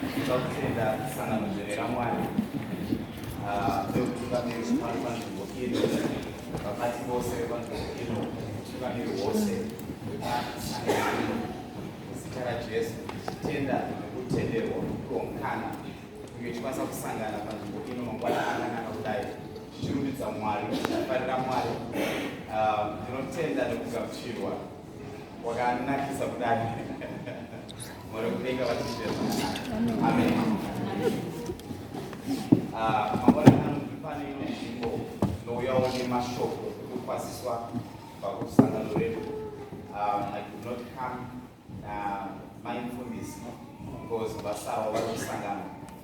Tinoda kutenda sangano dzvene raMwari vekutungamiri zvemari panzvimbo ino vabati vose vepanzvimbo ino utungamiri hwose hwemasangano ino muzita raJesu tichitenda nekutenderwa kuonkana uye tikwanisa kusangana panzvimbo ino mangwana akanaka kudai tichirumbidza Mwari tichifarira Mwari ndinotenda nekugamuchirwa wakanakisa kudai mwari kudenga vatichema amen ah, mangwanani anokuti pane imwe nzvimbo tinouyawo nemashoko ekukwaziswa pakusangano redu um, i could not come na uh, mindfulness because vasawa vari kusangana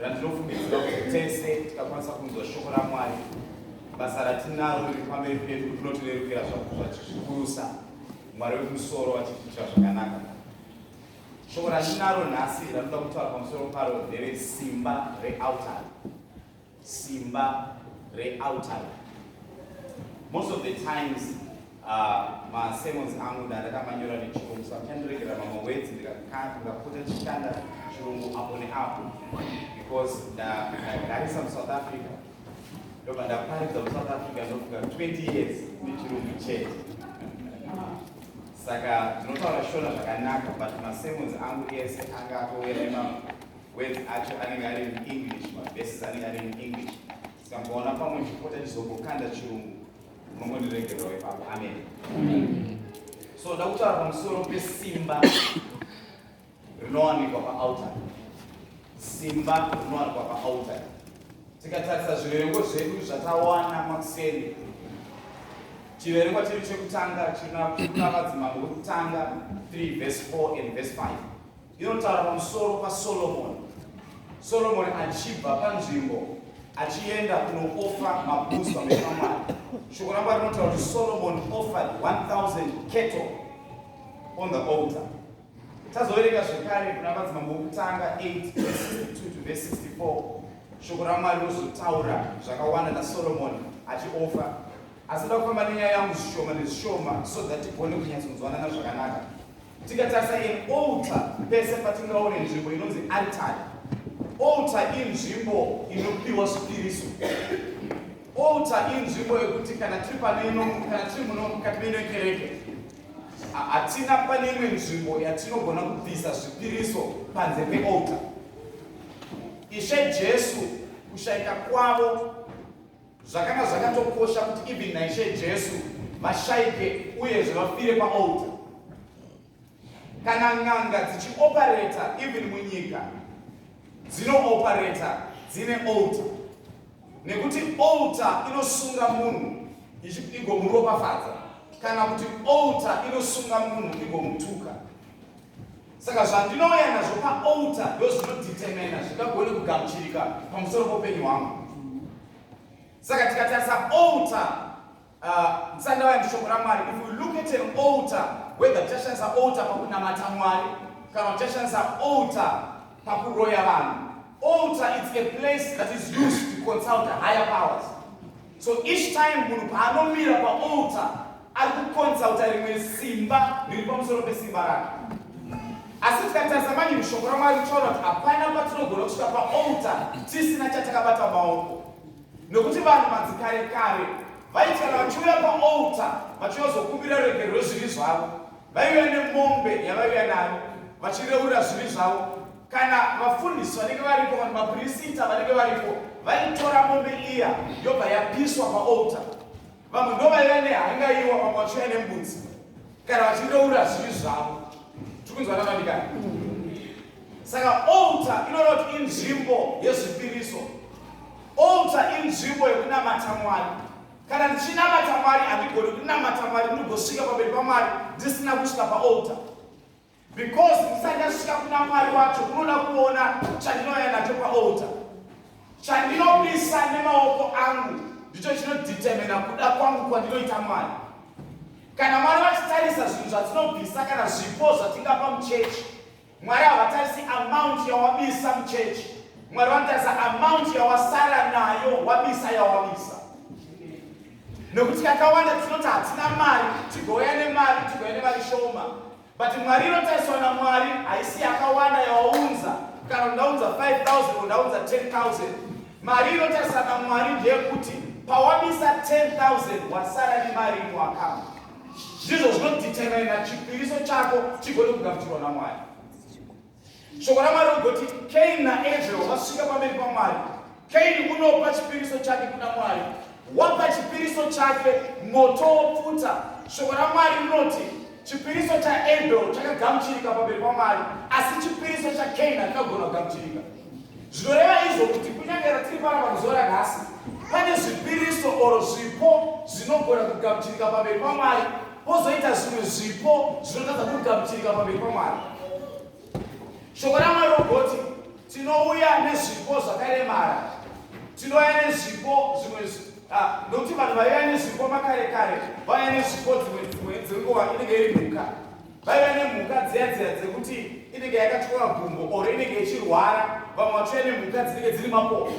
randinofungidzira kuti tese tikakwanisa kunzwa shoko ramwari basa ratinaro riri pamberi pedu rinotirerukira zvazvikurusa mwari wekumusoro vachitiitira zvakanaka shoko ratinaro nhasi ranoda kutaura pamusoro paro ndere simba realtar simba realtar most of the times Ah, ma sermons angu nda ndakamanyora nechirungu so achandiregera mamwe words ndikaputa chishanda chirungu apo neapo because ndagarisa musouth africa ndobva ndaparidza musouth africa ndofunga 20 years nechirungu chete saka ndinotaura shona zvakanaka but masermons angu ese anga atouya nemamwe words acho anenge ari muenglish maverses anenge ari muenglish sikamboona pamwe ndipota ndizombokanda chirungu so ndakutaura pamusoro pesimba rinowanikwa paaltar simba rinowanikwa paaltar tikatarisa zviverengo zvedu zvatawana makuseni chiverengwa chiri chekutanga china vadzimambo vekutanga 3 vese 4 and vese 5 Inotaura pamusoro paSolomoni, Solomoni achibva panzvimbo achienda kunoofa mabhutsu pamberi paMwari. Shoko raMwari rinotaura kuti Solomoni offered 1000 cattle on the altar. Tazoverenga zvekare kuna madzimambo okutanga 8 to verse 64 shoko raMwari rinozotaura zvakawanda naSolomoni achiofa Asi ndoda kufamba nenyaya yangu zvishoma nezvishoma so that tigone kunyatsonzwanana zvakanaka. Tikatarisa an altar pese patingaone nzvimbo inonzi altari. Altar inzvimbo inopiwa zvipiriso. Altar inzvimbo yekuti kana tiri pano ino kana tiri muno mukati meino kereke hatina pane imwe nzvimbo yatinogona kubvisa zvipiriso panze pealtar. Ishe Jesu kushaika kwavo Zvakanga zvakatokosha kuti even naIshe Jesu vashaike uyezve vafire paolta. Kana n'anga dzichiopareta even munyika dzinoopareta dzine olta nekuti olta inosunga munhu igomuropafadza kana kuti olta inosunga munhu igomutuka Saka zvandinouya nazvo paaltar ndozvinodetermina zvingagone kugamuchirika pamusoro poupenyu hwangu. Saka tikatarisa altar uh, ndisandauya mushoko raMwari, if we look at an altar, whether tichashandisa altar pakunamata Mwari kana tichashandisa altar pakuroya vanhu, altar it's a place that is used to consult higher powers. So each time munhu paanomira paaltar ari kuconsulta rimwe simba riri pamusoro pesimba rake. Asi tikatarisa manje mushoko raMwari tichaona kuti hapana patinogona kusvika paaltar tisina chatakabata maoko. Nokuti vanhu madzikare kare vaiti kana vachiuya paaltar vachiyozokumbira ruregerero rwezvivi zvavo vaiuya nemombe yavaiuya nayo vachireurira zvivi zvavo kana vafundisi vanenge varipo kana maprisita vanenge varipo vaitora mombe iya yobva yapiswa paalta vamwe ndovaiva nehangaiwa vamwe vachiuya nembudzi kana vachireura zvivi zvavo tikunzwana vandikani saka alta inoreva kuti inzvimbo yezvipiriso alta inzvimbo yekunamata mwari kana ndichinamata mwari handigoni kunamata mwari ndinogosvika pamberi pamwari ndisina kusvika paalta Because ndisati ndasvika kuna Mwari wacho unoda kuona chandinouya nacho paaltar. Chandinopisa nemaoko angu ndicho chinodetermina kuda kwangu kwandinoita Mwari. Kana Mwari vachitarisa zvinhu zvatinobvisa kana zvipo zvatingapa muchechi, Mwari havatarisi amount yawabisa muchechi. Mwari vanotarisa amount yawasara nayo wabisa yawabisa. Nokuti kakawanda tinoti hatina mari, tigouya nemari, tigouya nemari shoma. But mwari inotariswa naMwari haisi yakawanda yawaunza. Kana undaunza 5000 undaunza 10000. Mari inotariswa naMwari ndeyekuti pawabisa 10000 wasara nemari ino akamba. Ndizvo zvinodetermina chipiriso chako chigone kugamuchirwa naMwari. Shoko raMwari rinogoti Kaini naAbel vasvika pamberi paMwari. Kaini unopa chipiriso chake kuna Mwari. Wapa chipiriso chake, moto wopfuta. Shoko raMwari rinoti chipiriso chaAbel chakagamuchirika pamberi paMwari, asi chipiriso chaKaini hakagona kugamuchirika. Zvinoreva izvo kuti kunyange ratiri paramba muzuva ranhasi, pane zvipiriso oro zvipo zvinogona kugamuchirika pamberi paMwari Pozoita zvimwe zvipo zvinotadza kugamuchirika pamberi paMwari. Shoko raMwari rogoti tinouya nezvipo zvakaremara, tinouya nezvipo zvimwe ah, nokuti vanhu vaiva nezvipo makare kare vaiva nezvipo dzimwe dzimwe dzenguva inenge iri mhuka vaiva nemhuka dziya dziya dzekuti inenge yakatyora gumbo or inenge ichirwara vamwe vachiuya nemhuka dzinenge dziri mapopo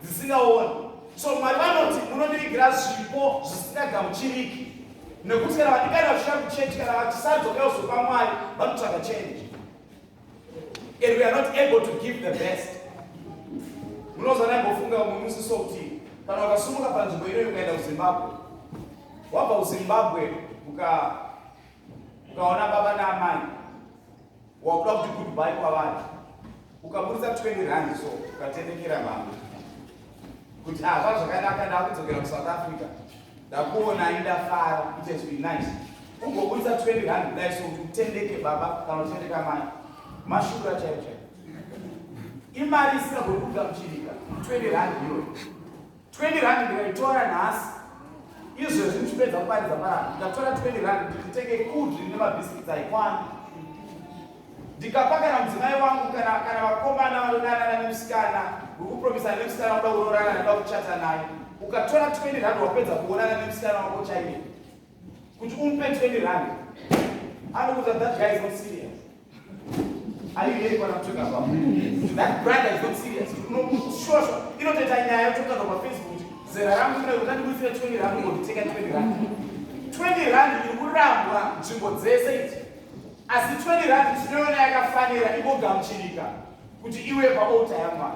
dzisingaoni so mwari vanoti munondivigira zvipo zvisingagamuchiriki nekuti kana vadikana vasvika kuchechi kana vatisadzoka kuzopa mwari vanotsvaga change and we are not able to give the best munoza naimbofunga umwe musi so kuti kana ukasumuka panzvimbo inoyi ukaenda kuzimbabwe wabva kuzimbabwe ukaona baba naamai wakuda kuti goodbye kwavari ukaburitsa 20 rand so ukatenekera vamwe kuti ava ah, zvakanaka ndakudzokera kusouth africa ndakuonai ndafara it has been nice ungoburitsa 20 rand kudai so kuti utendeke baba kana utendeka mai mashura chaicho imari isingagoni kugamuchirika 20 rand iyoyo 20 rand ndikaitora nhasi izvezvi ndichipedza kuparidza maramba ndikatora 20 rand ndikutenge kudri nemabhiskits aikwana ndikapa kana mudzimai wangu kana kana vakomana vanodanana nemusikana wekupromisa nemusikana wakuda kurorana nekuda kuchata naye ukatora 20 rand wapedza kuonana nemusikana wako chaiye kuti umupe 20 rand anokuta that guy is not serious are you hearing what i'm talking about that brother is not serious unoshosha inotoita nyaya yototanga pafacebook zera rangu kune kuti ndandibudisira 20 rand ngonditenga 20 rand 20 rand iri kurambwa nzvimbo dzese idzi asi 20 rand tinoona yakafanira igogamuchirika kuti iwe paota yamwana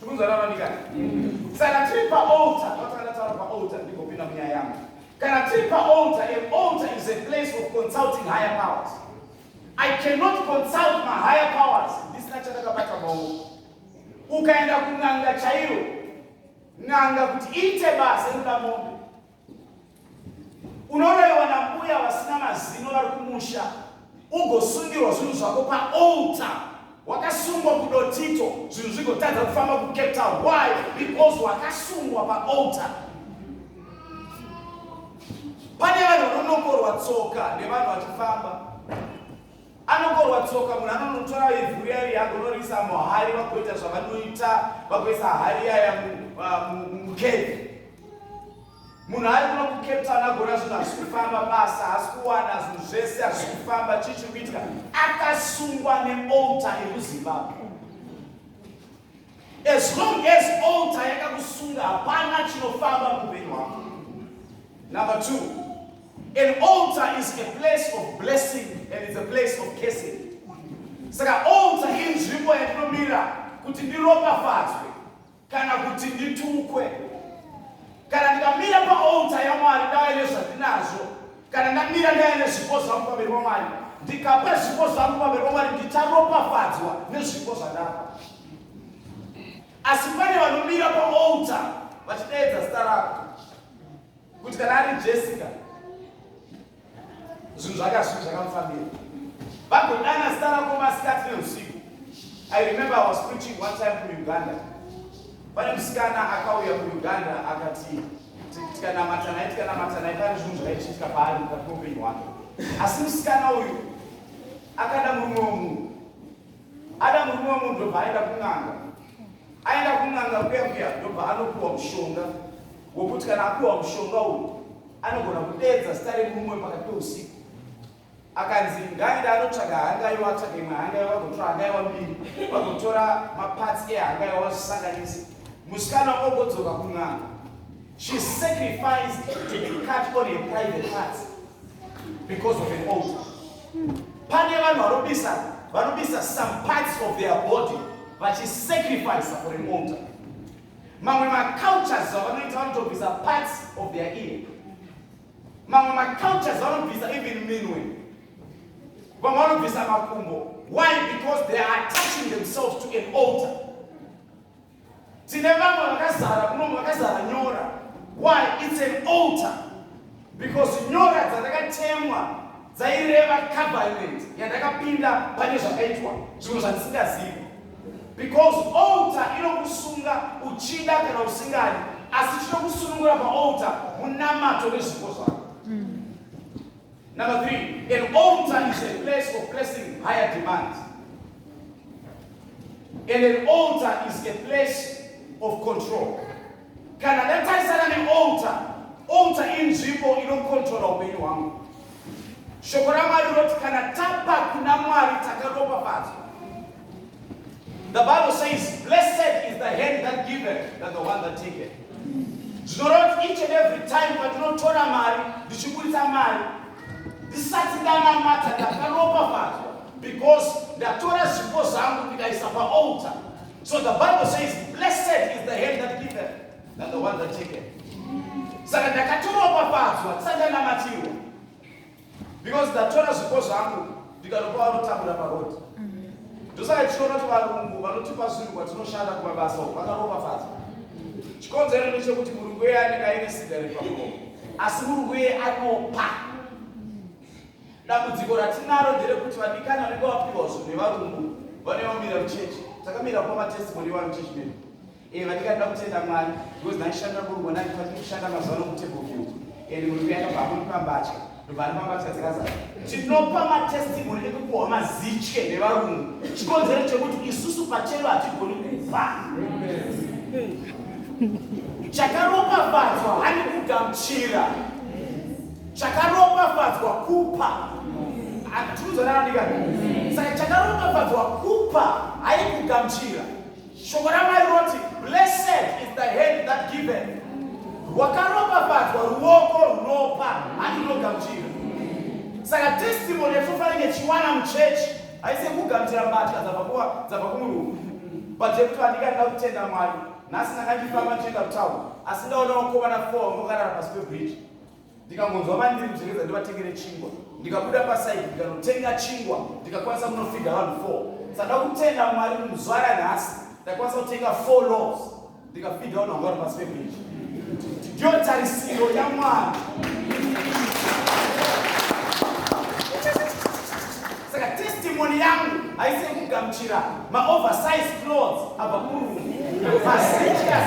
Tikunzana vanikani? Saka tiri paaltar, patakada taura paaltar ndigopinda munyaya yangu. Kana tiri paaltar, an altar is a place of consulting higher powers. I cannot consult my higher powers ndisina chandakabata maoko. Ukaenda kun'anga chairo, n'anga kuti iite basa inoda mombe. unorewa nambuya vasina mazino vari kumusha ugosungirwa zvinhu zvako paalta wakasungwa kudotito zvinhu zvigotadza kufamba kucape town why because wakasungwa paalta pane vanhu vanonokorwa tsoka nevanhu vachifamba Anokorwa tsoka munhu anonotora ivhu riya riya agonoriisa muhari vagoita zvavanoita vagoisa hari yaya mukevi munhu ari kuno kucape town agona zvinhu hazvi kufamba basa hasi kuwana zvinhu zvese hazvi kufamba chii chiri kuitika akasungwa neolta yekuzimbabwe As long as altar yakakusunga hapana chinofamba muupenyu hwako. Number two, an altar is a place of blessing and it's a place of cursing. Saka altar inzvimbo yatinomira kuti ndiropafadzwe kana kuti nditukwe. Kana ndikamira paaltar yaMwari dave nezvandinazvo kana ndamira ndaya nezvipo zvangu pamberi pamwari ndikapa zvipo zvangu pamberi pamwari ndicharopafadzwa nezvipo zvandapa asi pane vanomira paolta vachidaedza zita rako kuti kana ari jessica zvinhu zvakazvii zvakamufambira vagodana zita rako masikati neusiku i remember i was preaching one time kuuganda pane musikana akauya kuuganda akati tikanamata naye tikanamata naye pane zvinhu zvaichiitika paari mukati meupenyu hwake asi musikana uyu akada murume wemunhu ada murume wemunhu ndobva aenda kun'anga aenda kun'anga kuya kuya ndobva anopiwa mushonga wekuti kana apiwa mushonga uyu anogona kudedza zita remurume pakati peusiku akanzi ngaende anotsvaga hangaiwa atsvaga imwe hangaiwa vagotora hangaiwa mbiri vagotora maparts ehangaiwa vazvisanganise musikana ogodzoka kun'anga she sacrificed to be cut on a private parts because of an altar pane vanhu vanobisa vanobisa some parts of their body vachisacrifice for an altar mamwe macultures avanoita vanotobisa parts of their ear mamwe macultures vanobvisa even minwe vamwe vanobvisa makumbo why because they are attaching themselves to an altar tine vamwe vakazara kunomu vakazara nyora why it's an altar because nyora dzatakatemwa dzaireva covenant yandakapinda pane zvakaitwa zvinhu zvandisingazivi because altar inokusunga uchida kana usingadi asi chinokusunungura paaltar munamato nezvipo zvako Number three, an altar is a place of placing higher demands. And an altar is a place of control. kana ndatarisana neolta olta inzvimbo inokontrola upenyu hwangu shoko ramwari rinoti kana tapa kuna mwari takaropafadzwa the bible says blessed is the hand that giveth that the one that taketh zvinoreva kuti each and every time patinotora mari ndichiburitsa mari ndisati ndanamata ndakaropafadzwa because ndatora zvipo zvangu ndikaisa paolta So the Bible says, blessed is the hand that giveth than the one that taketh. Saka ndakatoropafadzwa sandanamatirwa because ndatora zvipo zvangu ndikanopa vanotambura parodi ndosaka tichiona kuti varungu vanotipa zvinhu kwatinoshanda kumabasa uku vakaropafadzwa chikonzero ndechekuti murungu iye anenge aine sigari pamuromo asi murungu iye anopa Dambudziko ratinaro nderekuti vadikani vanenge vapihwa zvinhu nevarungu vanenge vamira muchechi takamira kupa matestimony evanhu chechi medu eh, vadikani da kutenda mwari because ndaishanda kurungu ndandifati kushanda mazuva no kutable view and murungu yakabva amuipa mbatya ndobva andipa mbatya dzikazara tinopa matestimony ekupuhwa mazitye nevarungu chikonzero chekuti isusu pachero hatigoni kuva chakaropafadzwa hanikugamuchira chakaropafadzwa kupa atiuzonaandika saka chakaropafadzwa kupa haikugamchira shoko ramwari rinoti blessed is the hand that given rwakaropafadzwa ruoko runopa handinogamchira saka testimony yatofanenge chiwana muchechi haise kugamchira mbatya dzabva kumurungu but yekuti vandika ndida kutenda mwari nhasi ndanga ndifamba ndichienda kutaun asi ndaona vakomana four ngokarara pasi pebridge ndikangonzwa vandiri kudzengedza ndivatengere chingwa ndikabuda pasaidi ndikanotenga chingwa ndikakwanisa kunofidha vanhu four saka kutenda mwari muzuva ranhasi ndakwanisa kutenga four loves ndikafidha vanhu vanga vari pasi pebridge ndiyo tarisiro yamwari saka testimony yangu haisi yekugamuchira maoversize clothes abva kurungu masechiasechiaa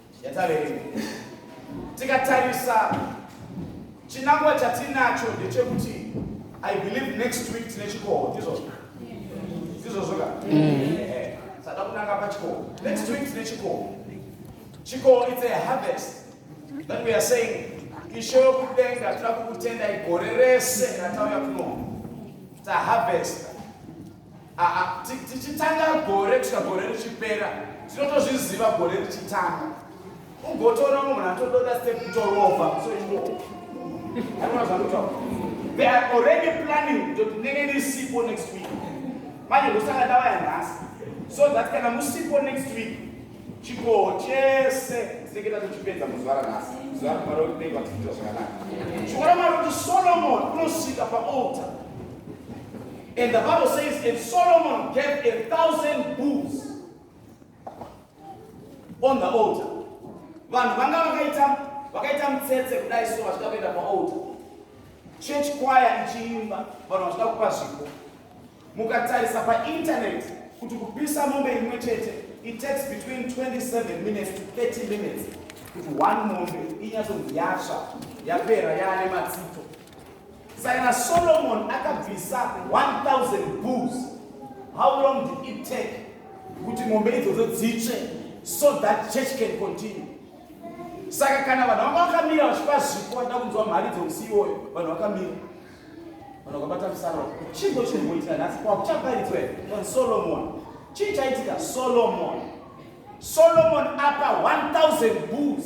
yataverenga tikatarisa chinangwa chatinacho ndechekuti i believe next week tine chikoho ndizvozvo ndizvozvo ka mm. eh, sada kunanga pachikoho next week tine chikoho chikoho its a harvest that we are saying ishe wekudenga toda kukutenda igore rese ratauya kuno taharvesta Aa tichitanga gore kusvika gore richipera tinotozviziva gore richitanga ugotoona mumhu munhu atododa step kutorova so imo aona zvakutaura they are already planning kuti ndenge ndiri sipo next week manje ndosaka ndavaya nhasi so that kana musipo next week chikoho chese tinenge tatochipedza muzuva ranhasi zuva rmari kuti nei vatiita zvakanaka chikora mari kuti solomon unosvika paaltar And the Bible says, and Solomon gave a thousand bulls on the altar. Vanhu vanga vakaita vakaita mutsetse kudai so vachida kuenda paaltar. Church choir ichiimba, vanhu vachida kupa zvipo. Mukatarisa painternet kuti kupisa mombe imwe chete it takes between 27 minutes to 30 minutes kuti one mombe inyatsonzi yatsva yapera yaane matsito Saka naSolomon akabvisa 1000 bulls. How long did it take kuti mombe idzodzo dzitsve so that church can continue? Saka kana vanhu vanga vakamira vachipa zvipo vachida kunzwa mhari dzomusi iwoyo, vanhu vakamira vanhu vakabata musaro. Chingo chiri kuitika nhasi kwakuchaparidzwa here? Solomon. Chii chaitika? Solomon. Solomon apa 1000 bulls.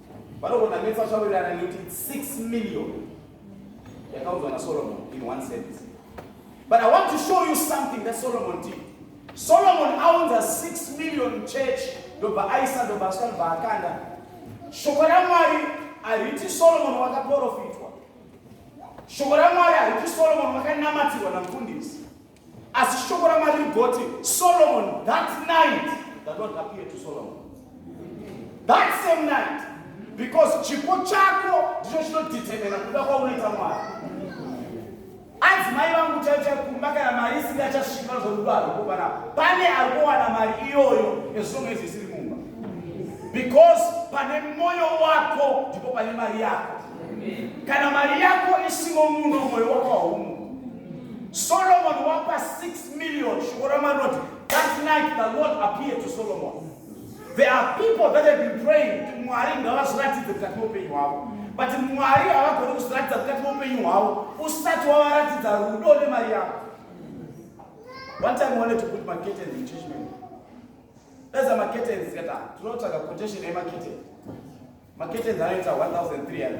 Vanogona metsa zvawirirana nekuti 6 million yakaudzwa naSolomon in one sentence. But I want to show you something that Solomon did. Solomon owns a 6 million church ndobva aisa ndobva asvika ndobva akanda. Shoko raMwari hariti Solomon wakaprofitwa. Shoko raMwari hariti Solomon wakanamatirwa namfundisi. Asi shoko raMwari rigoti, Solomon, that night, the Lord appeared to Solomon. That same night, because chipo chako ndicho chinodetermina kuda kwaunoita Mwari. Anzi mai vangu chaicha kumba kana mari isiri achasvika zvorudo hariko kana pane ari kuwana mari iyoyo as long as isiri mumba. Because pane moyo wako ndipo pane mari yako. Kana mari yako isimo muno moyo wako haumo. Solomon wapa 6 million shoko ramanoti that night the Lord appeared to Solomon. There are people that have been praying kuti Mwari ngavazoratidze mukati meupenyu hwavo but Mwari havagoni kuzoratidza mukati meupenyu hwavo usati wavaratidza rudo nemari yako. One time wanted to put my curtains in church member. That's a market and zikata. Tunaotaka quotation ya market. Market and zanaita 1300.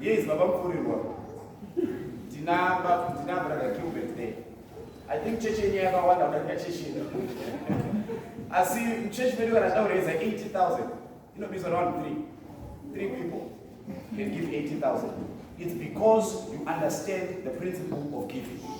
Yes, Baba Mfurirwa. Ndina Baba ndina brother Gilbert there. I think church yenyu yakawanda kudarika church yedu. Asi church medu kana taureza 80,000 inobizwa round 3. Three people can give 80,000. It's because you understand the principle of giving.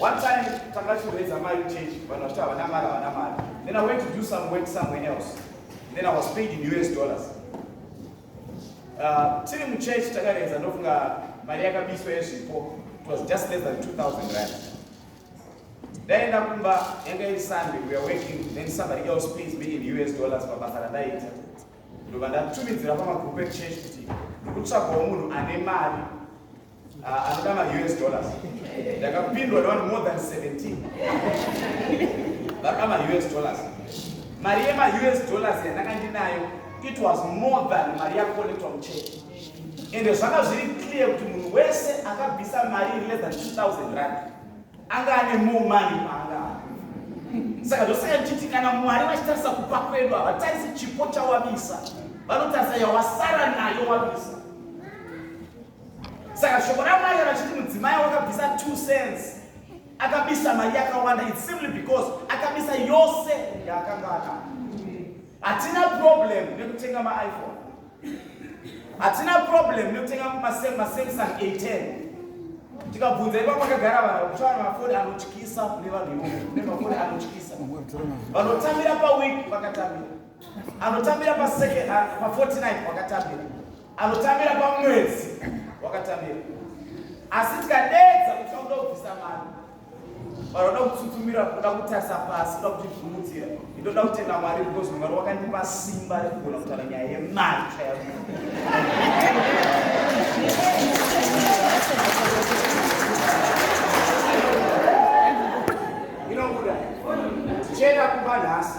One time takachureza mari change vanhu vachiti havana mari havana mari then I went to do some work somewhere else then I was paid in US dollars uh, tiri muchurch takarenza ndofunga mari yakabiswa yezvipo it was just less than 2000 rand ndaenda kumba yanga iri sunday we are working then somebody else pays me in US dollars pabasa randaita ndobva ndatumidzira pamagroup echurch kuti ndikutsvagawo munhu ane mari Ah, anoda ma us dollars ndakapindwa nevanhu more than 17 vaka ma us dollars mari yema us dollars yandanga ndinayo it was more than mari yakolektwa muchurch ende zvanga zviri clear kuti munhu wese akabvisa mari iri less than 2000 rand anga ane more money paanga saka zvosaka ndichiti kana mwari vachitarisa kupa kwedu havatarisi chipo chawabisa vanotarisa yawasara nayo wabisa saka shoko ramwari kana chiti mudzimai wakabvisa two cents akabisa mari yakawanda its simply because akabisa yose yaakanga anayo hatina problem nekutenga maiphone hatina problem nekutenga masamsung a10 tikabvunza ipa pakagara vanhu kuti vana mafoni anotyisa kune vanhu ivoo kune mafoni anotyisa vanotambira paweek vakatambira anotambira pa49 vakatambira anotambira pamwedzi wakatambira asi tikadeedza kuti akuda kubvisa mari vanoda kutsutsumira kuda kutarisa pasi kuda kutizvumudzira itoda kutenda mwari because mwari wakandipa simba rekugona kutaura nyaya yemari chaya inobuda tichienda kumba nhasi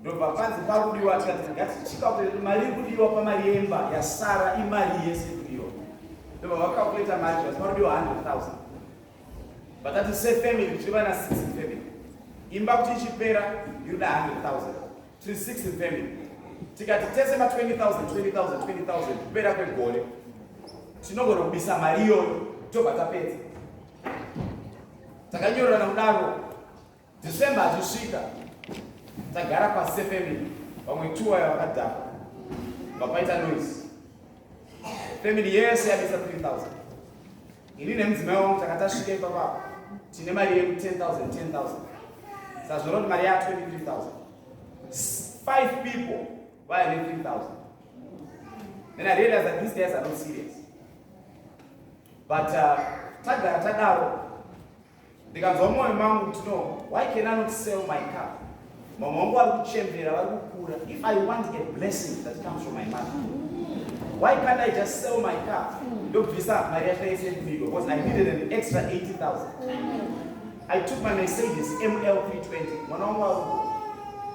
ndobva panzi pakudiwa tikati ngatichikakuleta mari iri kudiwa pamari yemba yasara imari yese kudiwa ndobva vakakuleta mari zvati pakudiwa 100000 vatati sefamily tiri vana 6 family imba kuti ichipera inoda 100000 tiri 6 family tikati tese ma 20000 20000 20000 kupera kwegore tinogona kubisa mari iyoyo tobva tapedza takanyorerana kudaro December achisvika tagara pasi sefamily vamwe two vaya vakadhakwa vapaita noise family yese yabisa 3000 ini nemudzimai wangu taka tasvika ipapapa tine mari yedu 10000 10000 sazvona kuti mari ya 23000 five people vaya ne 3000 then i realize that these guys are not serious but uh, tagara tadaro ndikanzwa mwoyo mangu kuti no why can i not sell my car mama wangu vari kuchembera vari kukura if i want a blessing that comes from my mother why can't i just sell my car ndobvisa mari yacho yese yekubigo because i needed an extra 80000 i took my mercedes ml 320 mwana wangu vari kuku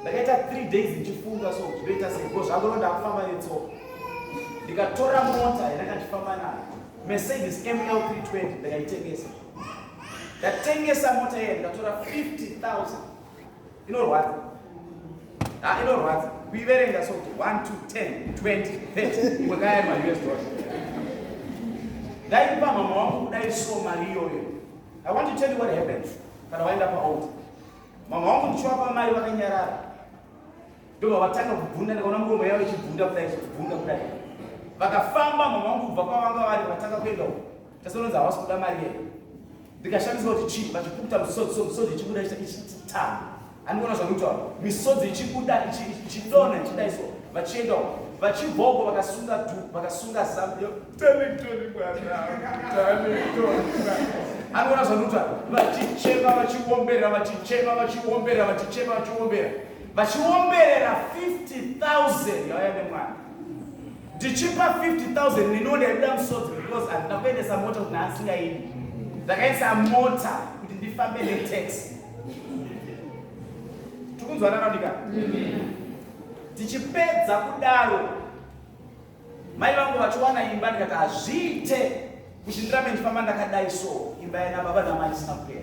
ndakaita three days ndichifunga so zvinoita sei because zvangoro ndakufamba netsoka ndikatora mota yandakandifamba nayo mercedes ml 320 ndakaitengesa ndatengesa mota iye ndikatora 50000 inorwadza ha ah, inorwadza kuiverenga so kuti 1 2 10 20 30 imwe kaya ma us dollar ndaipa mama wangu kudai so mari iyoyo i want to tell you what happens kana waenda paold mama wangu ndichiwapa mari vakanyarara ndobva vatanga kubvunda ndikaona muromo yavo ichibvunda kudai kubvunda kudai vakafamba mama wangu kubva kwavanga vari vatanga kuenda uko Tasononza hawasi kuda mari yeye. Ndikashamiswa kuti chii vachipukuta musodzi so musodzi ichibuda ichitamba. Andikuona zvakutaura. Misodzi ichibuda ichidona ichidai so vachienda uko. Vachibvoko vakasunga du vakasunga zambia. Tanitoni bwana. Tanitoni bwana anoona zvanuta vachichema vachiombera vachichema vachiombera vachichema vachiombera vachiomberera 50000 yauya nemwana ndichipa 50000 neniwo ndaida musodzi because handina kuendesa mota kuti naasingaidi ndakaisa mota kuti ndifambe netax tikunzwanana ndika tichipedza kudaro mai vangu vachiwana imba ndikati hazviite kuti ndirambe ndifamba ndakadai so imba yana baba namai isina kupera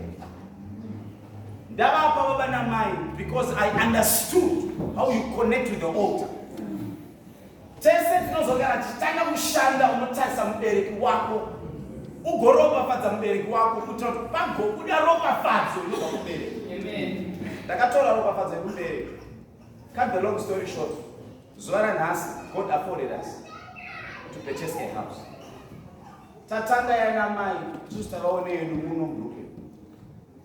ndavapa baba namai because i understood how you connect with the altar Tese tinozogara tichitanga kushanda unotarisa mubereki wako ugoropafadza mubereki wako kuitira kuti pagobuda ropafadzo inobva kubereki. Ndakatora ropafadzo yekubereki. Cut the long story short, zuva ranhasi God afforded us to purchase a house. Tatanga yana mai tisu takaone yedu muno group